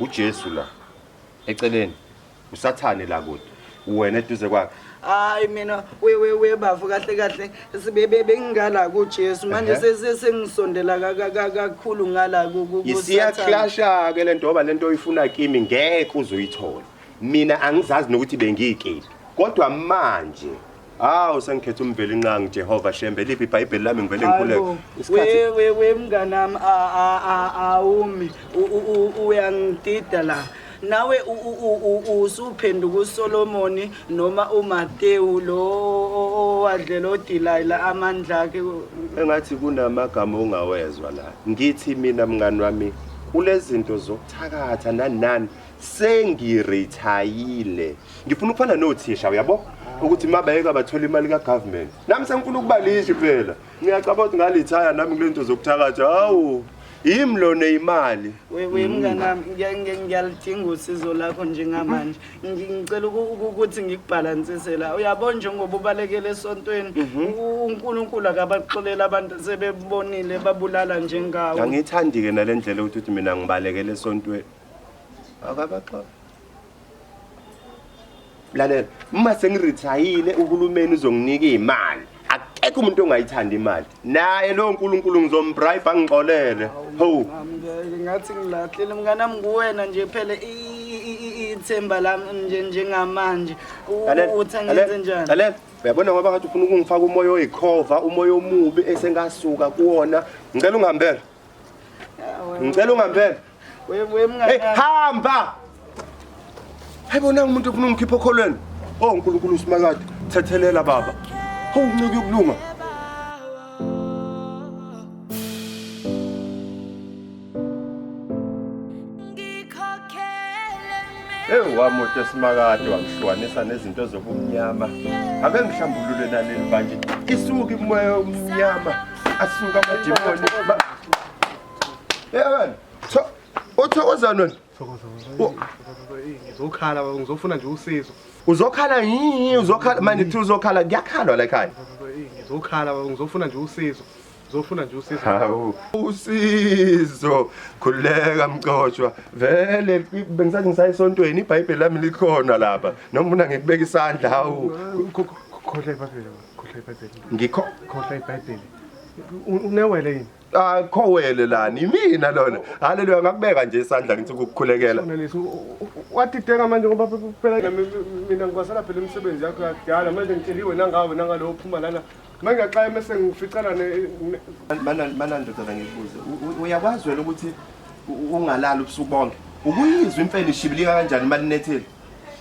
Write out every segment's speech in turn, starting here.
uJesu la eceleni usathane la kude wena eduze kwakhe hayi mina wewe we bafu kahle kahle sibebe bengingala kuJesu manje Ehhe. sese sengisondela ka- ka- ka- kakhulu ngala ku- ku- ku- Sathane. isiyakhlasha ke lento ngoba lento oyifuna kimi ngeke uzoyithola mina angizazi nokuthi bengiyikephi kodwa manje Hawu sengikhetha umvelinqangi Jehova Shembe liphi iBhayibheli lami ngivele ngikhuleke. Hayibo, Isikhathi we we we mnganami a- a- a- awumi U- u- u- uyangidida la nawe u- u- u- u- usuphenduka usolomoni noma umatewu lo o- o- owadlela odilayila amandla akhe engathi kunamagama ongawezwa la. Ngithi mina mngani wami kulezinto zokuthakatha nanani sengirethayile. ngifuna ukufana nothisha uyabo ukuthi uma bayeka bathola imali kagovernment nami sengifuna ukubalisha phela ngiyacaba ukuthi ngalithaya nami kule nto zokuthakatha hawu yimi lona imali wewe mnganami ngiyalidinga usizo lakho njengamanje ngicela ukuthi ngikubhalansise la uyabo njengoba ubalekele esontweni unkulunkulu akabaxolela abantu sebebonile babulala njengawo angiyithandi-ke nale ndlela ukuthi uthi mina ngibalekele esontweni akabaxola lalela uma sengirithayile uhulumeni uzonginika iy'mali akekho umuntu ongayithandi imali naye lowo nkulunkulu ngizombribe angixolele ho ngathi ngilahlile mnganami nguwena nje phele ithemba lami nje njengamanje uthi angenze njani lalela uyabona ngoba ngathi ufuna ukungifaka umoya oyikhova umoya omubi esengasuka kuwona ngicela ungihambela ngicela ungihambela Hey, hamba hayibona umuntu ofuna umkhipha okholweni o oh, nkulunkulu usimakade thethelela baba hawu uncike ukulunga ewu wamoto esimakade wangihlukanisa nezinto zobumnyama ake ngihlambulule naleli banje isuke imoya omnyama asuka amadimoni Yabona. Tho uthokozana wena. Ngizokhala baba ngizofuna nje usizo. Uzokhala yini uzokhala manje thi uzokhala kuyakhalwa la ekhaya. Ngizokhala baba ngizofuna nje usizo. Ngizofuna nje usizo. Hawu usizo khuleka mxoshwa vele bengisathi ngisayisontweni iBhayibheli lami likhona lapha noma ufuna ngikubeka isandla hawu Khohla iBhayibheli. Khohla iBhayibheli. ngikho Khohla iBhayibheli. U- Unewele yini? akho wele lani imina lona haleluya ngakubeka nje isandla ngithi ukukukhulekela wadideka manje ngoba phela mina ngikwasela phela imisebenzi yakho yakudala manje ngitsheliwe nangawe nangalowo uphuma lana manje ngiyaxaya mese ngificana mana ndodana ngikubuze uyakwazi wena ukuthi ungalali ubusuku bonke ukuyizwa imfene ishibilika kanjani malinethile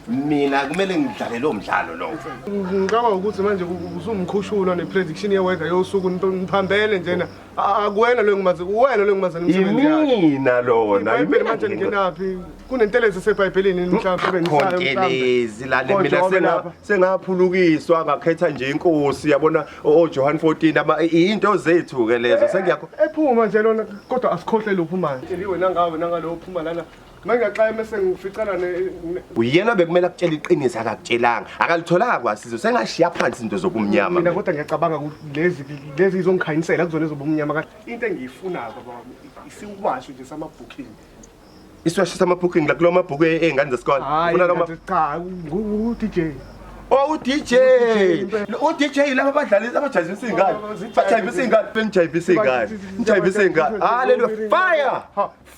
mina kumele ngidlale lo mdlalo lowo ngicabanga ukuthi manje usumkhushulwa ne-prediction ye-weather yosuku niphambene njena akuwena lo engimazi uwena lo engimazi yimina lona ibhayibheli manje lingenaphi kunentelezi esebhayibhelini mhlawumbekontelezi lale mina sengaphulukiswa ngakhetha nje inkosi yabona ojohane 14 iyinto zethu-ke lezo eh, sengiyaephuma nje lona kodwa asikhohle lophumayo wena ngawe nangalo ophuma lana mangaxaye mese ngificana ne uyena bekumele akutshela iqiniso akakutshelanga akalitholanga kwasizo sengashiya phansi into zokumnyama mina kodwa ngiyacabanga ukuthi lezi lezi izongikhanyisela kuzona ezobumnyama kanti into engiyifunayo baba wami isiwasho nje sama booking isiwasho sama booking la kulo mabhuku ezingane zesikole ufuna lo mabhuku cha ngu DJ Oh uDJ. UDJ laba badlali abajayivisa ingane. Bajayivisa ingane, bengijayivisa ingane. Ngijayivisa ingane. Hallelujah. Fire!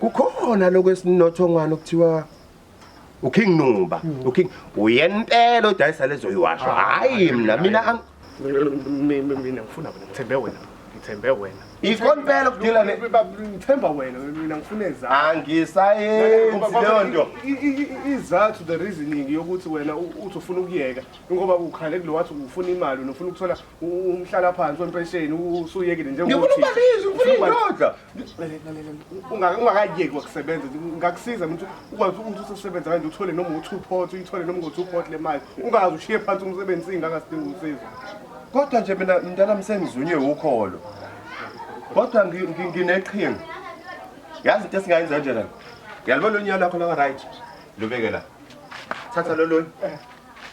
kukhona lokho esinothongwana okuthiwa uking nuba hmm. uking uyena impela odayisa lezo yiwasho hhayi mna mina mina ngifuna wena ngithembe wena ngithembe wena ikho mpela kudila ne ngithemba wena mina ngifuna ezakho angisayenzi leyo nto izathu the reasoning yokuthi wena uthi ufuna ukuyeka ngoba ukhale kulo wathi ufuna imali nofuna ukuthola umhlala phansi wempesheni usuyekile njengokuthi ngifuna ukubaliza ngifuna indoda ungakayeki wakusebenza ngakusiza mntu ukwazi ukuthi usesebenza kanje uthole noma u-two pot uyithole noma ngo-two pot le mali ungazi ushiye phansi umsebenzi singakasidinga usizo kodwa nje mina mntana msengizunywe wukholo kodwa ngineqhinga yazi into esingayenza nje lana ngiyalibona onyana lakho laka-right lubeke la thatha lolunye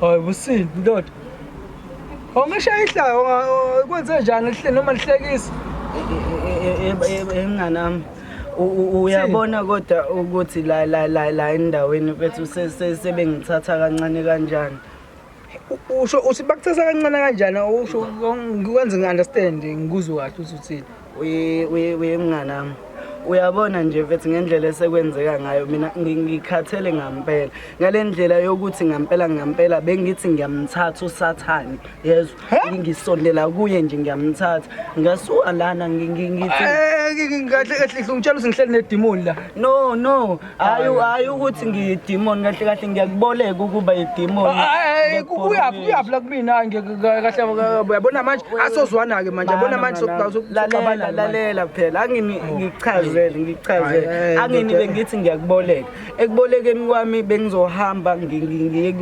Hayi busini ndoda. Ongisha ihlaya kwenze njani lihle noma lihlekisa? Enganami. Uyabona kodwa ukuthi la la la la endaweni bethu sebengithatha kancane kanjani. Usho uthi bakuthatha kancane kanjani usho ngikwenze ngi-understand ngikuzwe kahle ukuthi uthini. uyemnganami uyabona nje mfethu ngendlela esekwenzeka ngayo mina ngikhathele ngampela ngale ndlela yokuthi ngampela ngampela bengithi ngiyamthatha usathane yezwa ngisondela kuye nje ngiyamthatha ngasuka lana ngithi eh, kahle kahle ngitshela ukuthi ngihleli nedimoni la no no hayi hayi ukuthi ngiyidimoni kahle kahle ngiyakuboleka ukuba yidimoni uyaphi uyaphi la kumina hayi kahle uyabona manje asozwana-ke manje yabona manje lalela lalela phela angini ngichazele ngichazele angini bengithi ngiyakuboleka ekubolekeni kwami bengizohamba ngiye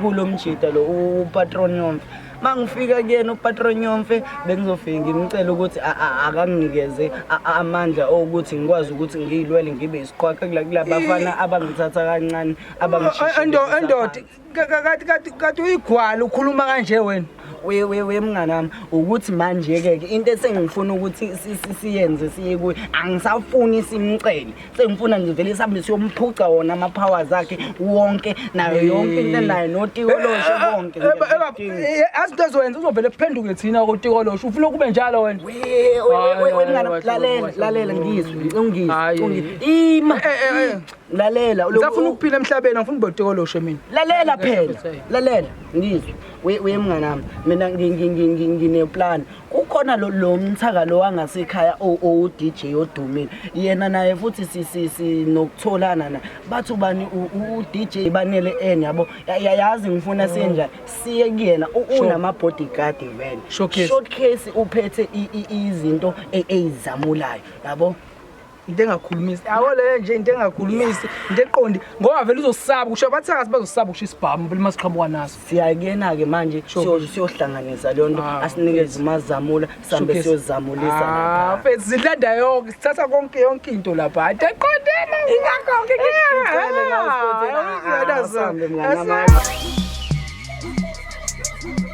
kulo mjita lo upatronion uma ngifika kuyena upatronyomfe bengizofike ngimcele ukuthi akanginikeze amandla okuthi ngikwazi ukuthi ngiyilwele ngibe isiqwaqe kula bafana abangithatha kancane abangishiendoda kati uyigwala ukhuluma kanje wena wemnganami ukuthi manje-ke into esengifuna ukuthi siyenze siye kuye angisafuni simcele sengifuna nje vele sihambe siyomphuca wona ama-powers akhe wonke nayo yonke into enayo notikoloshe konke azi into ezowenza uzovele kuphenduke thina kotikoloshe ufuna ukube njalo wena lalela lalela ngizwe ungizwe ima eh, eh, eh. lalela usafuna ukuphila emhlabeni angifuna ube utekoloshe mina lalela phela lalela ngizwe uye mnganami mina ngineplan kukhona lo lo mthaka lo wangasekhaya o- owu-dj odumile yena naye futhi si- si- sinokutholana na bathi ubani u- u- u-dj banele en yabo Ya- ya- yazi ngifuna senjani siye kuyena U- Sure. unama-bodyguard vele Showcase. showcase uphethe i- i- izinto e- eyizamulayo yabo into engakhulumisi yabo leyo nje into engakhulumisi into eqondi ngoba vele uzosaba kusho abathakathi bazosaba kusho isibhamu impela uma siqhamuka naso siyakuyena-ke manje siyohlanganisa leyo nto ah, asinikeze umazamula sihambe siyozamulisa ah, mfethu zilanda yonke sithatha konke yonke into lapha hayi teqondena ingakonke ngikucela